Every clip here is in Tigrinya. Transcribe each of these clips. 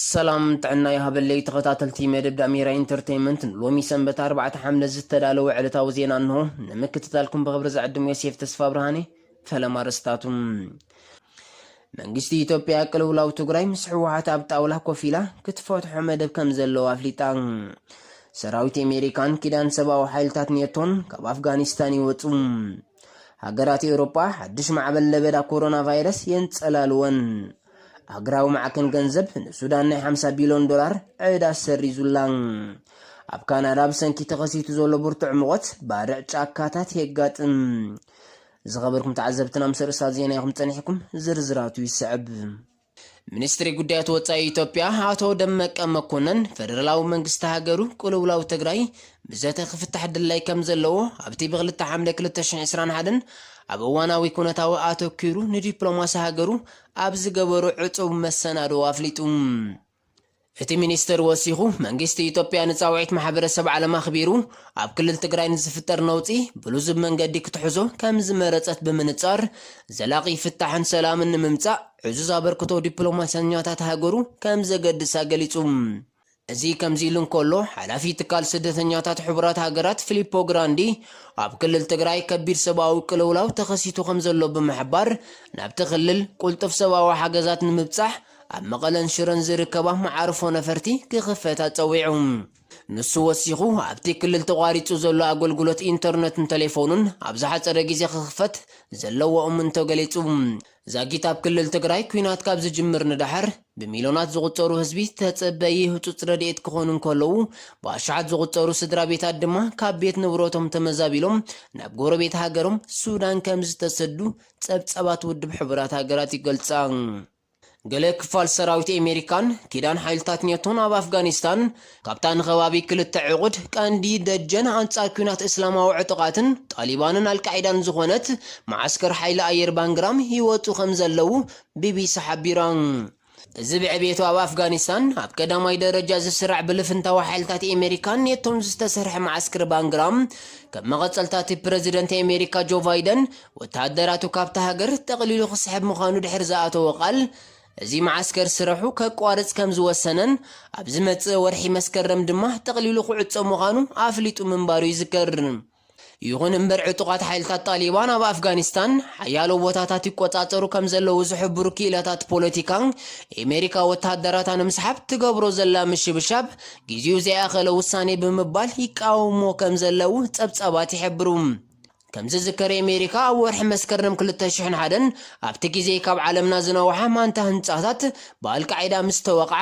ሰላም ጥዕና ይሃበለይ ተኸታተልቲ መደብ ዳሜራ ኢንተርተይመንት ንሎሚ ሰንበት ኣርባዕተ ሓምለ ዝተዳለወ ዕለታዊ ዜና እንሆ ንምክትታልኩም ብኽብሪ ዝዕድም ዮሴፍ ተስፋብርሃኔ ፈለማ ኣርእስታቱ መንግስቲ ኢትዮጵያ ቅልውላው ትግራይ ምስ ህወሓት ኣብ ጣውላ ኮፍ ኢላ ክትፈትሖ መደብ ከም ዘለዎ ኣፍሊጣ ሰራዊት ኣሜሪካን ኪዳን ሰብኣዊ ሓይልታት ኔቶን ካብ ኣፍጋኒስታን ይወፁ ሃገራት ኤውሮጳ ሓድሽ ማዕበል ለበዳ ኮሮና ቫይረስ የንጸላልወን ሃገራዊ ማዕከን ገንዘብ ንሱዳን ናይ 50 ቢልዮን ዶላር ዕዳ ሰሪዙላ። ኣብ ካናዳ ብሰንኪ ተኸሲቱ ዘሎ ብርቱዕ ሙቐት ባርዕ ጫካታት የጋጥም። ዝኸበርኩም ተዓዘብትና ምስ ርእሳ ዜና ኢኹም ጸኒሕኩም፣ ዝርዝራቱ ይስዕብ። ሚኒስትሪ ጉዳያት ወጻኢ ኢትዮጵያ ኣቶ ደመቀ መኮነን ፈደራላዊ መንግስቲ ሃገሩ ቅልውላው ትግራይ ብዘተ ክፍታሕ ድላይ ከም ዘለዎ ኣብቲ ብክልተ ሓምለ 2021 ኣብ እዋናዊ ኩነታዊ ኣተኪሩ ንዲፕሎማሲ ሃገሩ ኣብ ዝገበሩ ዕጹው መሰናድዎ ኣፍሊጡ። እቲ ሚኒስትር ወሲኹ፣ መንግስቲ ኢትዮጵያ ንጻውዒት ማሕበረሰብ ዓለም ኣኽቢሩ ኣብ ክልል ትግራይ ንዝፍጠር ነውጺ ብልዙብ መንገዲ ክትሕዞ ከምዝመረጸት ብምንጻር ዘላቒ ፍታሕን ሰላምን ንምምጻእ ዕዙዝ ኣበርክቶ ዲፕሎማሰኛታት ሃገሩ ከምዘገድሳ ገሊጹ። እዚ ከምዚ'ሉ እንከሎ፣ ሓላፊ ትካል ስደተኛታት ሕቡራት ሃገራት ፊሊፖ ግራንዲ፣ ኣብ ክልል ትግራይ ከቢድ ሰብኣዊ ቅልውላው ተኸሲቱ ከምዘሎ ብምሕባር፣ ናብቲ ክልል ቁልጡፍ ሰብኣዊ ሓገዛት ንምብጻሕ ኣብ መቐለን ሽረን ዝርከባ መዓርፎ ነፈርቲ ክኽፈታ ጸዊዑ። ንሱ ወሲኹ፣ ኣብቲ ክልል ተቋሪጹ ዘሎ ኣገልግሎት ኢንተርነትን ተሌፎንን ኣብ ዝሓጸረ ግዜ ክኽፈት ዘለዎ እምንቶ ገሊጹ። ዛጊት ኣብ ክልል ትግራይ ኲናት ካብ ዝጅምር ንደሓር ብሚልዮናት ዝቑጸሩ ህዝቢ ተጸበዪ ህጹጽ ረድኤት ክኾኑ እንከለዉ፣ ብኣሽሓት ዝቑጸሩ ስድራቤታት ድማ ካብ ቤት ንብረቶም ተመዛቢሎም ናብ ጎረቤት ሃገሮም ሱዳን ከምዝተሰዱ ጸብጻባት ውድብ ሕቡራት ሃገራት ይገልጻ። ገለ ክፋል ሰራዊት ኤመሪካን ኪዳን ሓይልታት ኔቶን ኣብ ኣፍጋኒስታን ካብታ ንከባቢ ክልተ ዕቑድ፣ ቀንዲ ደጀን ኣንጻር ኲናት እስላማዊ ዕጡቓትን፣ ጣሊባንን ኣልቃዒዳን ዝኾነት መዓስከር ሓይሊ ኣየር ባንግራም ይወጹ ከምዘለዉ ቢቢሲ ሓቢራ። እዚ ብዕብየቱ ኣብ ኣፍጋኒስታን ኣብ ቀዳማይ ደረጃ ዝስራዕ ብልፍንታዊ ሓይልታት ኤመሪካን ኔቶን ዝተሰርሐ መዓስክር ባንግራም፣ ከም መቐጸልታ'ቲ ፕረዚደንት ኤመሪካ ጆ ቫይደን ወተሃደራቱ ካብታ ሃገር ጠቕሊሉ ክስሕብ ምዃኑ ድሕሪ ዝኣተዎ ቃል፣ እዚ መዓስከር ስረሑ ከቋርጽ ከም ዝወሰነን ኣብ ዝመጽእ ወርሒ መስከረም ድማ ጠቕሊሉ ክዕጾ ምዃኑ ኣፍሊጡ ምንባሩ ይዝከር። ይኹን እምበር ዕጡቓት ሓይልታት ጣሊባን ኣብ ኣፍጋኒስታን ሓያሎ ቦታታት ይቆጻጸሩ ከም ዘለዉ ዝሕብሩ ክኢላታት ፖለቲካ፣ ኤመሪካ ወተሃደራታ ንምስሓብ ትገብሮ ዘላ ምሽብሻብ ግዜኡ ዘይኣኸለ ውሳኔ ብምባል ይቃወምዎ ከም ዘለዉ ጸብጻባት ይሕብሩ። ከም ዝዝከር ኤሜሪካ ኣብ ወርሒ መስከረም ክልተ ሽሕን ሓደን ኣብቲ ግዜ ካብ ዓለምና ዝነውሓ ማንታ ህንጻታት ብኣልቃዒዳ ምስ ተወቕዓ፣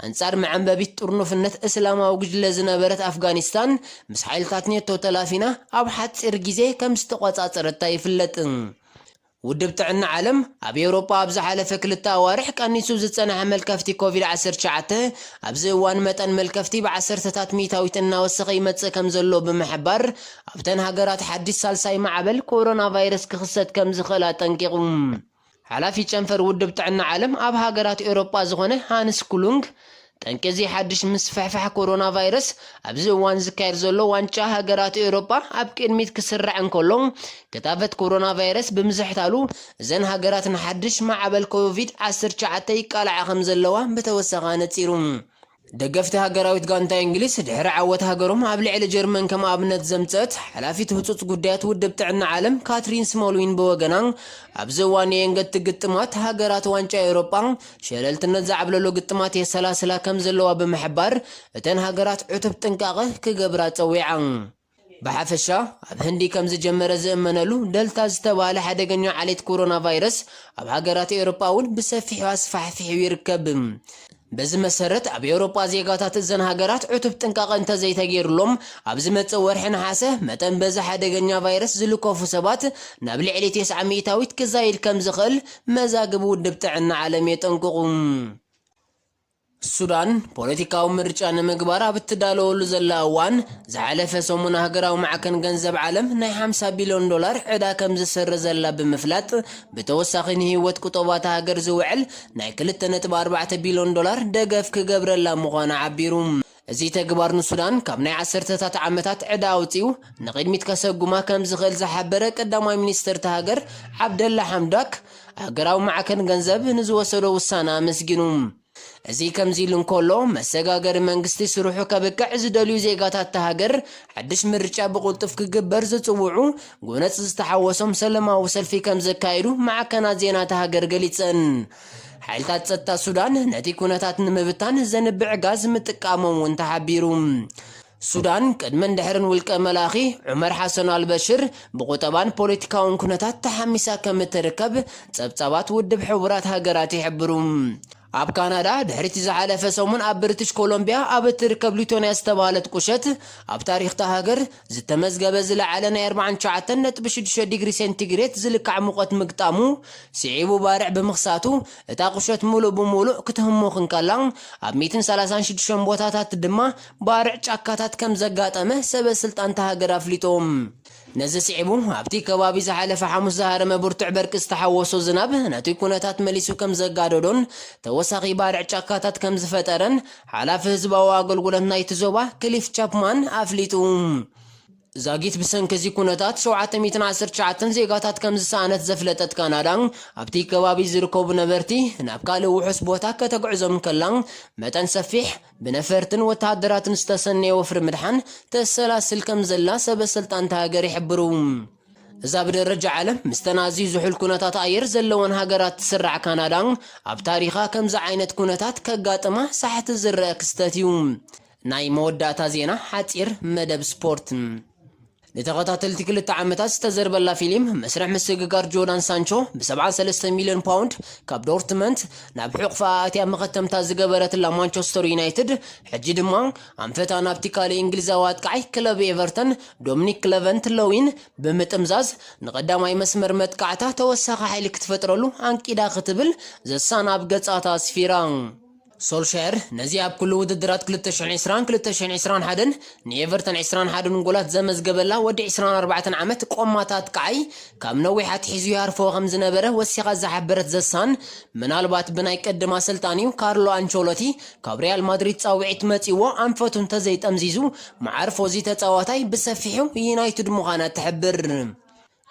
ኣንጻር መዐምበቢት ጥርኑፍነት እስላማዊ ጉጅለ ዝነበረት ኣፍጋኒስታን ምስ ሓይልታት ኔቶ ተላፊና ኣብ ሓጺር ግዜ ከም ዝተቖጻጸረታ ይፍለጥ። ውድብ ጥዕና ዓለም፣ ኣብ ኤውሮጳ ኣብ ዝሓለፈ ክልተ ኣዋርሕ ቀኒሱ ዝጸንሐ መልከፍቲ ኮቪድ ዓሰርተ ትሽዓተ፣ ኣብዚ እዋን መጠን መልከፍቲ ብዓሰርተታት ሚእታዊት እናወሰኸ ይመጽእ ከምዘሎ ብምሕባር፣ ኣብተን ሃገራት ሓድሽ ሳልሳይ ማዕበል ኮሮናቫይረስ ክኽሰት ከምዝኽእል ኣጠንቂቑ። ሓላፊ ጨንፈር ውድብ ጥዕና ዓለም ኣብ ሃገራት ኤውሮጳ ዝኾነ ሃንስ ኩሉንግ፣ ጠንቂ እዚ ሓድሽ ምስፍሕፋሕ ኮሮናቫይረስ፣ ኣብዚ እዋን ዝካየድ ዘሎ ዋንጫ ሃገራት ኤውሮጳ ኣብ ቅድሚት ክስራዕ እንከሎ፣ ክታበት ኮሮናቫይረስ ብምዝሕታሉ፣ እዘን ሃገራት ንሓድሽ ማዕበል ኮቪድ ዓሰርተ ትሽዓተ ይቃልዓ ከምዘለዋ ብተወሳኺ ኣነጺሩ። ደገፍቲ ሃገራዊት ጋንታ እንግሊዝ፣ ድሕሪ ዓወት ሃገሮም ኣብ ልዕሊ ጀርመን ከም ኣብነት ዘምጸት፣ ሓላፊት ህጹጽ ጉዳያት ውድብ ጥዕና ዓለም ካትሪን ስሞልዊን ብወገና፣ ኣብዚ እዋን ንየንገድቲ ግጥማት ሃገራት ዋንጫ ኤውሮጳ፣ ሸለልትነት ዝዓብለሎ ግጥማት የሰላስላ ከም ዘለዋ ብምሕባር፣ እተን ሃገራት ዕቱብ ጥንቃቐ ክገብራ ጸዊዓ። ብሓፈሻ፣ ኣብ ህንዲ ከም ዝጀመረ ዝእመነሉ ደልታ ዝተባህለ ሓደገኛ ዓሌት ኮሮናቫይረስ ኣብ ሃገራት ኤውሮጳ'ውን ብሰፊሑ ኣስፋሕፊሑ ይርከብ። በዚ መሰረት፣ ኣብ ኤውሮጳ ዜጋታት እዘን ሃገራት ዕቱብ ጥንቃቐ እንተዘይተገይሩሎም፣ ኣብ ዝመጽእ ወርሒ ነሓሰ መጠን በዚ ሓደገኛ ቫይረስ ዝልከፉ ሰባት ናብ ልዕሊ ቴስዓ ሚእታዊት ክዛይድ ከም ዝኽእል መዛግብ ውድብ ጥዕና ዓለም የጠንቅቑ። ሱዳን ፖለቲካዊ ምርጫ ንምግባር ኣብ እትዳለወሉ ዘላ እዋን፣ ዝሓለፈ ሰሙን ሃገራዊ ማዕከን ገንዘብ ዓለም ናይ ሓምሳ ቢልዮን ዶላር ዕዳ ከምዝስርዘላ ብምፍላጥ፣ ብተወሳኺ ንህይወት ቁጠባ እታ ሃገር ዝውዕል ናይ ክልተ ነጥቢ ኣርባዕተ ቢልዮን ዶላር ደገፍ ክገብረላ ምዃኑ ዓቢሩ። እዚ ተግባር ንሱዳን ካብ ናይ ዓሰርተታት ዓመታት ዕዳ ኣውጺኡ ንቕድሚት ከሰጉማ ከምዝኽእል ዝሓበረ ቀዳማይ ሚኒስተር እታ ሃገር ዓብደላ ሓምዳክ፣ ሃገራዊ ማዕከን ገንዘብ ንዝወሰዶ ውሳነ ኣመስጊኑ። እዚ ከምዚ'ሉ እንከሎ፣ መሰጋገሪ መንግስቲ ስርሑ ከብቅዕ ዝደልዩ ዜጋታት እታ ሃገር፣ ሓድሽ ምርጫ ብቕልጡፍ ክግበር ዝጽውዑ ጎነጽ ዝተሓወሶም ሰለማዊ ሰልፊ ከምዘካየዱ ማዕከናት ዜና እታ ሃገር ገሊጸን። ሓይልታት ጸጥታ ሱዳን ነቲ ኩነታት ንምብታን ዘንብዕ ጋዝ ምጥቃሞም እውን ተሓቢሩ። ሱዳን ቅድምን ድሕርን ውልቀ መላኺ ዑመር ሓሰን ኣልበሽር ብቑጠባን ፖለቲካውን ኩነታት ተሓሚሳ ከም እትርከብ ጸብጻባት ውድብ ሕቡራት ሃገራት ይሕብሩ። ኣብ ካናዳ ድሕሪ'ቲ ዝሓለፈ ሰሙን ኣብ ብሪትሽ ኮሎምብያ ኣብ እትርከብ ሊቶንያ ዝተባህለት ቁሸት ኣብ ታሪኽ'ታ ሃገር ዝተመዝገበ ዝለዓለ ናይ ኣርብዓን ትሽዓተን ነጥቢ ሽዱሽተ ዲግሪ ሴንቲግሬት ዝልካዕ ሙቐት ምግጣሙ ስዒቡ ባርዕ ብምኽሳቱ እታ ቁሸት ሙሉእ ብሙሉእ ክትህሙኽ እንከላ ኣብ ሚእትን ሰላሳን ሽዱሽተን ቦታታት ድማ ባርዕ ጫካታት ከምዘጋጠመ ሰበ ስልጣን እታ ሃገር ኣፍሊጦም። ነዚ ስዒቡ ኣብቲ ከባቢ ዝሓለፈ ሓሙስ ዝሃረመ ብርቱዕ በርቂ ዝተሓወሶ ዝናብ ነቲ ኩነታት መሊሱ ከምዘጋደዶን ተወሳኺ ባርዕ ጫካታት ከምዝፈጠረን ሓላፊ ህዝባዊ ኣገልግሎት ናይቲ ዞባ ክሊፍ ቻፕማን ኣፍሊጡ። ዛጊት ብሰንኪ እዚ ኩነታት ሸውዓተ ሚእትን ዓሰርተ ትሽዓተን ዜጋታት ከም ዝሰኣነት ዘፍለጠት ካናዳ፣ ኣብቲ ከባቢ ዝርከቡ ነበርቲ ናብ ካልእ ውሑስ ቦታ ከተግዕዞም እንከላ፣ መጠን ሰፊሕ ብነፈርትን ወተሃደራትን ዝተሰነየ ወፍሪ ምድሓን ተሰላስል ከም ዘላ ሰበ-ስልጣን እታ ሃገር ይሕብሩ። እዛ ብደረጃ ዓለም ምስተን ኣዝዩ ዝሑል ኩነታት ኣየር ዘለወን ሃገራት ትስራዕ ካናዳ፣ ኣብ ታሪኻ ከምዚ ዓይነት ኩነታት ከጋጥማ ሳሕቲ ዝረኣ ክስተት እዩ። ናይ መወዳእታ ዜና ሓጺር መደብ ስፖርት። ንተኸታተልቲ ክልተ ዓመታት ዝተዘርበላ ፊሊም መስርሕ ምስግጋር ጆዳን ሳንቾ ብ ሰብዓን ሰለስተን ሚልዮን ፓውንድ ካብ ዶርትመንት ናብ ሕቑፋኣ ኣትያ መኸተምታ ዝገበረትላ ማንቸስተር ዩናይትድ ሕጂ ድማ ኣንፈታ ናብቲ ካልእ እንግሊዛዊ ኣጥቃዓይ ክለብ ኤቨርተን ዶምኒክ ክለቨንት ለዊን ብምጥምዛዝ ንቐዳማይ መስመር መጥቃዕታ ተወሳኺ ሓይሊ ክትፈጥረሉ ኣንቂዳ ክትብል ዘ ሳን ኣብ ገጻታ ኣስፊራ። ሶልሻየር ነዚ ኣብ ኩሉ ውድድራት ክልተ ሽሕን ዕስራን ክልተ ሽሕን ዕስራን ሓደን ንኤቨርተን ዕስራን ሓደን ጎላት ዘመዝገበላ ወዲ ዕስራን ኣርባዕተን ዓመት ቆማት ኣጥቃዓይ ካብ ነዊሕ ኣትሒዙ ይሃርፎ ከም ዝነበረ ወሲኻ ዝሓበረት ዘ ሳን ምናልባት ብናይ ቅድም ኣሰልጣኒኡ ካርሎ ኣንቸሎቲ ካብ ሪያል ማድሪድ ጻውዒት መጺዎ ኣንፈቱ እንተዘይጠምዚዙ መዓርፎ እዚ ተጻዋታይ ብሰፊሑ ዩናይትድ ምዃና ትሕብር።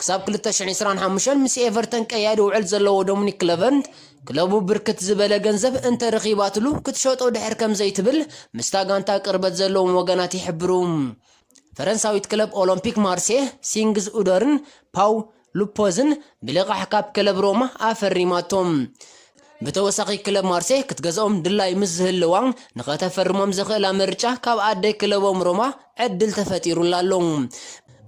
ክሳብ ክልተ ሽሕን ዕስራን ሓሙሽተን ምስ ኤቨርተን ቀያዲ ውዕል ዘለዎ ዶሚኒክ ክለቨርንት፣ ክለቡ ብርክት ዝበለ ገንዘብ እንተረኺባትሉ ክትሸጦ ድሕር ከምዘይትብል ምስታ ጋንታ ቅርበት ዘለዎም ወገናት ይሕብሩ። ፈረንሳዊት ክለብ ኦሎምፒክ ማርሴ ሲንግዝ ኡዶርን ፓው ሉፖዝን ብልቓሕ ካብ ክለብ ሮማ ኣፈሪማቶም። ብተወሳኺ ክለብ ማርሴ ክትገዝኦም ድላይ ምስ ዝህልዋ ንኸተፈርሞም ዘኽእላ ምርጫ ካብ ኣደ ክለቦም ሮማ ዕድል ተፈጢሩላ ኣሎ።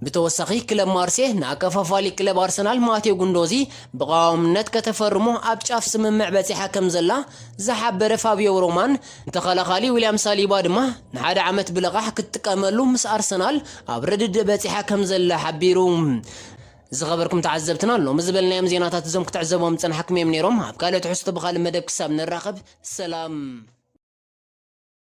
ብተወሳኺ ክለብ ማርሴ ንኣከፋፋሊ ክለብ ኣርሰናል ማቴዮ ጉንዶዚ ብቐዋምነት ከተፈርሞ ኣብ ጫፍ ስምምዕ በጺሓ ከምዘላ ዝሓበረ ፋብዮ ሮማን ተኸላኻሊ ዊልያም ሳሊባ ድማ ንሓደ ዓመት ብልቓሕ ክትጥቀመሉ ምስ ኣርሰናል ኣብ ርድድእ በጺሓ ከም ዘላ ሓቢሩ። ዝኸበርኩም ተዓዘብትና ሎሚ ዝበልናዮም ዜናታት እዞም ክትዕዘቦም ዝጸናሕኩም እዮም ነይሮም። ኣብ ካልእ ትሕዝቶ ብኻልእ መደብ ክሳብ ንራኸብ ሰላም።